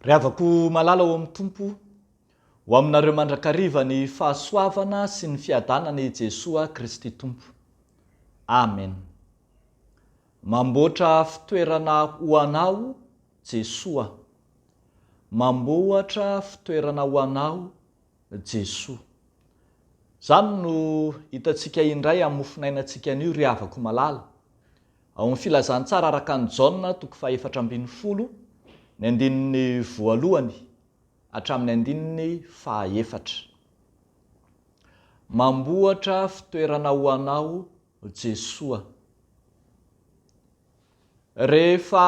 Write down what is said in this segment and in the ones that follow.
Ry havako malala ao amin'ny Tompo, ho aminareo mandrakariva ny fahasoavana sy ny fiadanana i Jesoa Kristy Tompo. Amen. Mamboatra fitoerana ho anao Jesoa. Mamboatra fitoerana ho anao Jesoa. Izany no hitantsika indray amin'ny mofonainantsika anio ry havako malala. Ao amin'ny Filazantsara araka an'i Jaona toko fahefatra ambin'ny folo, ny andininy voalohany hatramin'ny andininy fahaefatra. Mamboatra fitoerana ho anao Jesoa. Rehefa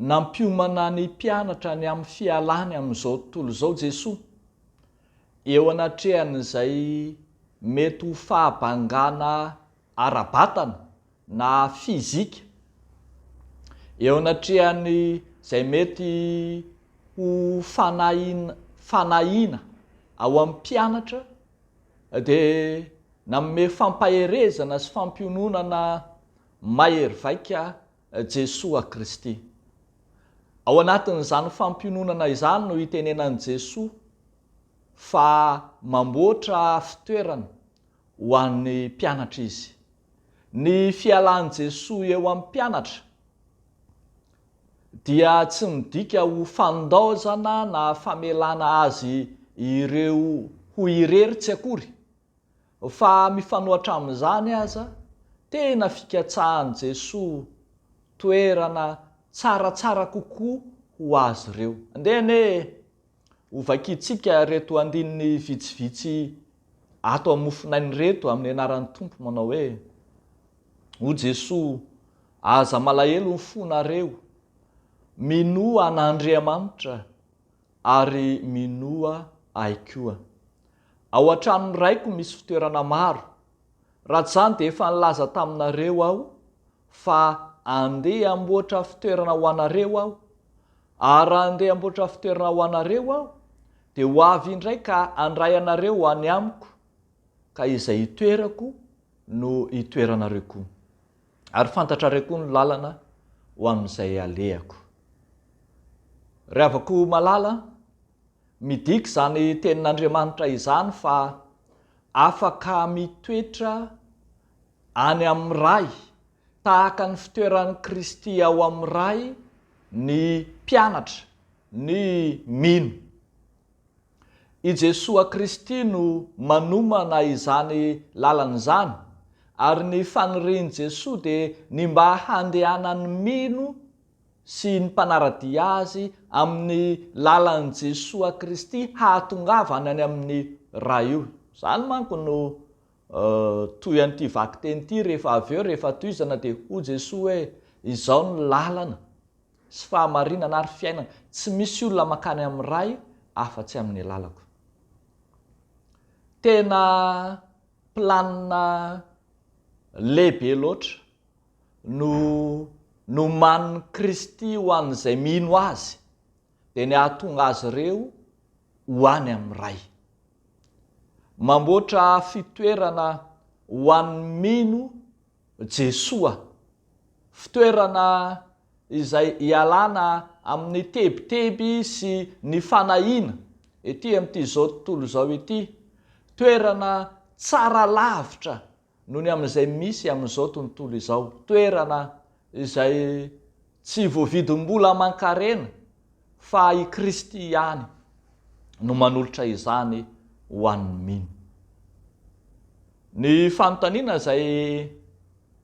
Nampiomana ny mpianatra ny amin'ny fialany amin'izao tontolo izao Jesoa, eo anatrehan'izay mety ho fahabangana ara-batana na fizika, eo anatrehan'izay mety ho fanahiana fanahiana ao amin'ny mpianatra dia nanome fampaherezana sy fampiononana Mahery vaika Jesoa Kristy. Ao anatin'izany fampiononana izany no itenenan'i Jesoa fa mamboatra fitoerana ho an'ny mpianatra Izy. Ny fialan'i Jesoa eo amin'ny mpianatra dia tsy midika ho fandaozana na famelana azy ireo ho irery tsy akory Fa mifanohatra amin'izany aza, tena fikatsahan'i Jesoa toerana tsaratsara kokoa ho azy ireo. Andeha anie hovakiantsika ireto andininy vitsivitsy ato amin'ny mofonaina ireto amin'ny anaran'ny Tompo manao hoe, O Jesoa, aza malahelo ny fonareo, minoa an'Andriamanitra, ary minoa ahy koa. Ao an-tranon'ny Raiko misy fitoerana maro. Raha tsy izany dia efa nilaza taminareo aho fa andeha hamboatra fitoerana ho anareo aho. Ary raha andeha hamboatra fitoerana ho anareo aho, dia ho avy indray ka handray anareo any Amiko, ka izay itoerako no hitoeranareo koa. Ary fantatrareo koa ny lalana ho amin'izay alehako. Ry havako malala, midika izany tenin'Andriamanitra izany fa afaka mitoetra any amin'ny Ray, tahaka ny fitoeran'i Kristy ao amin'ny Ray, ny mpianatra, ny mino. I Jesoa Kristy no manomana izany lalana izany, ary ny fanirian'i Jesoa dia ny mba handehanan'ny mino sy ny mpanara-dia Azy amin'ny lalan'i Jesoa Kristy hahatongavany any amin'ny Ray. Izany manko no Toy an'ity vakiteny ity, rehefa avy eo, rehefa tohizana dia hoy Jesoa hoe, Izaho no lalana sy fahamarinana ary fiainana, tsy misy olona mankany amin'ny Ray afa-tsy amin'ny alalako. Tena planina lehibe loatra no nomanin'i Kristy ho an'izay mino Azy. dia ny hahatonga azy ireo ho any amin'ny Ray. Mamboatra fitoerana ho an'ny mino Jesoa, fitoerana izay hialana amin'ny tebiteby sy ny fanahiana ety amin'ity izao tontolo izao ity, toerana tsara lavitra noho ny amin'izay misy amin'izao tontolo izao. Toerana izay tsy voavidim-bola aman-karena fa i Kristy ihany no manolotra izany ho an'ny mino. Ny fanontaniana izay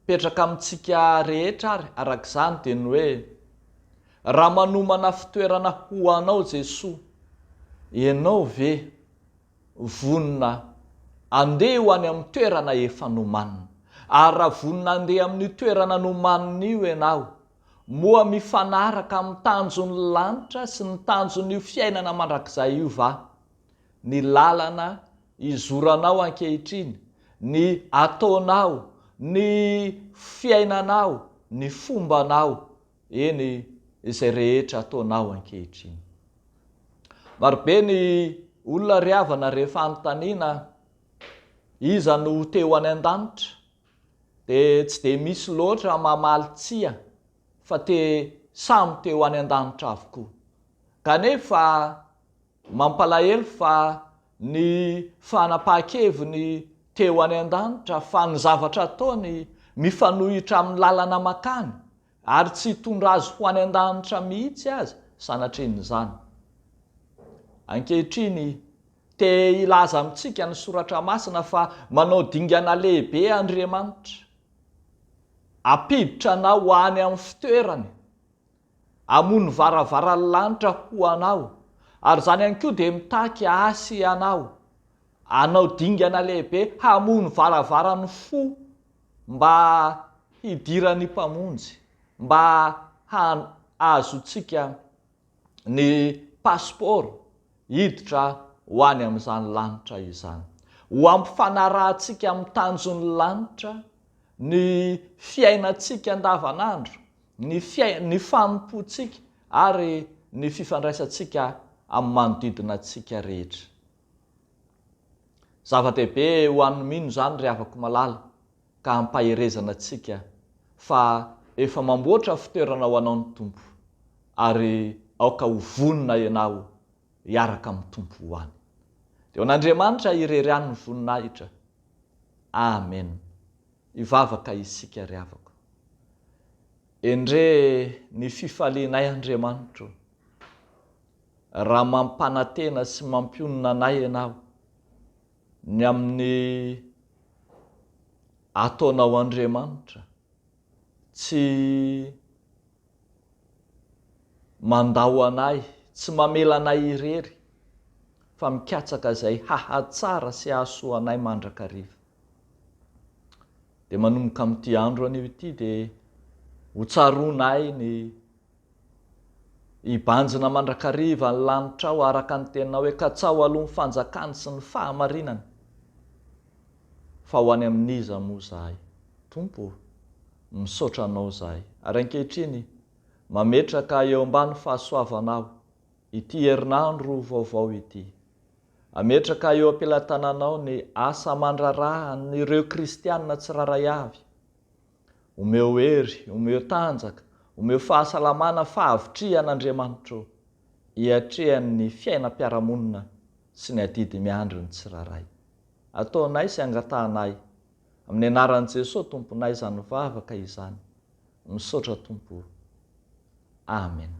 mipetraka amintsika rehetra ary araka izany dia ny hoe, Raha manomana fitoerana ho Anao Jesoa, Ianao ve Vonona handeha ho any amin'ny toerana efa nomanina. Ary raha vonona handeha amin'io toerana nomanina io ianao, moa mifanaraka amin'ny tanjon'ny lanitra sy ny tanjon'io fiainana mandrakizay io va ny lalana izoranao ankehitriny, ny ataonao, ny fiainanao, ny fombanao, Eny, izay rehetra ataonao ankehitriny. Marobe ny olona ry havana rehefa anontaniana iza no ho teo any an-danitra dia tsy dia misy loatra mamaly tsia fa te samy teo any an-danitra avokoa. Kanefa Mampalahelo fa ny fanapahan-keviny teo any an-danitra fa ny zavatra ataony mifanohitra amin'ny lalana makany ary tsy hitondra azy ho any an-danitra mihitsy aza sanatrin'izany. Ankehitriny, te hilaza amintsika ny Soratra Masina fa manao dingana lehibe Andriamanitra. Hampiditra anao any amin'ny fitoerany. Hamono varavaran'ny lanitra ho anao, ary izany ihany koa dia mitaky ahy sy anao hanao dingana lehibe hamono varavaran'ny fo mba hidiran'ny Mpamonjy, mba hahazoantsika ny pasipaoro hiditra ho any amin'izany lanitra izany. Ho hampifanarahantsika amin'ny tanjon'ny lanitra ny fiainantsika andavanandro, ny fiain ny fanompoantsika ary ny fifandraisantsika amin'ny manodidina antsika rehetra. Zava-dehibe ho an'ny mino izany ry havako malala ka ampaherezana antsika fa efa mamboatra fitoerana ho anao ny Tompo ary aoka ho vonona ianao hiaraka amin'ny Tompo ho any. Dia ho an'Andriamanitra irery ihany ny voninahitra. Amen. Hivavaka isika ry havako. Endrey ny fifalianay Andriamanitro raha mampanantena sy mampionona anay Ianao ny amin'ny ataonao Andriamanitra tsy mandao anay tsy mamela anay irery fa mikatsaka izay hahatsara sy hahasoa anay mandrakariva. Dia manomboka amin'ity andro anio ity dia ho tsaroanay ny hibanjina mandrakariva ny lanitrao araka ny teninao hoe katsaho aloha ny fanjakany sy ny fahamarinany. Fa ho any amin'iza moa izahay? Tompo ô! Misaotra Anao izahay. Ary ankehitriny, mametraka eo ambany fahasoavanao ity herinandro vaovao ity. Ametraka eo am-pelatananao ny asa aman-draharahan'ireo kristiana tsirairay avy. Omeo hery, omeo tanjaka, omeo fahasalamana fahavitrihan' Andriamanitro hiatrehan'ny fiainam-piarahamonina sy ny adidy miandry ny tsirairay. Ataonay sy angatahanay amin'ny anaran'i Jesoa Tomponay izany vavaka izany. Misaotra Tompo o. Amena.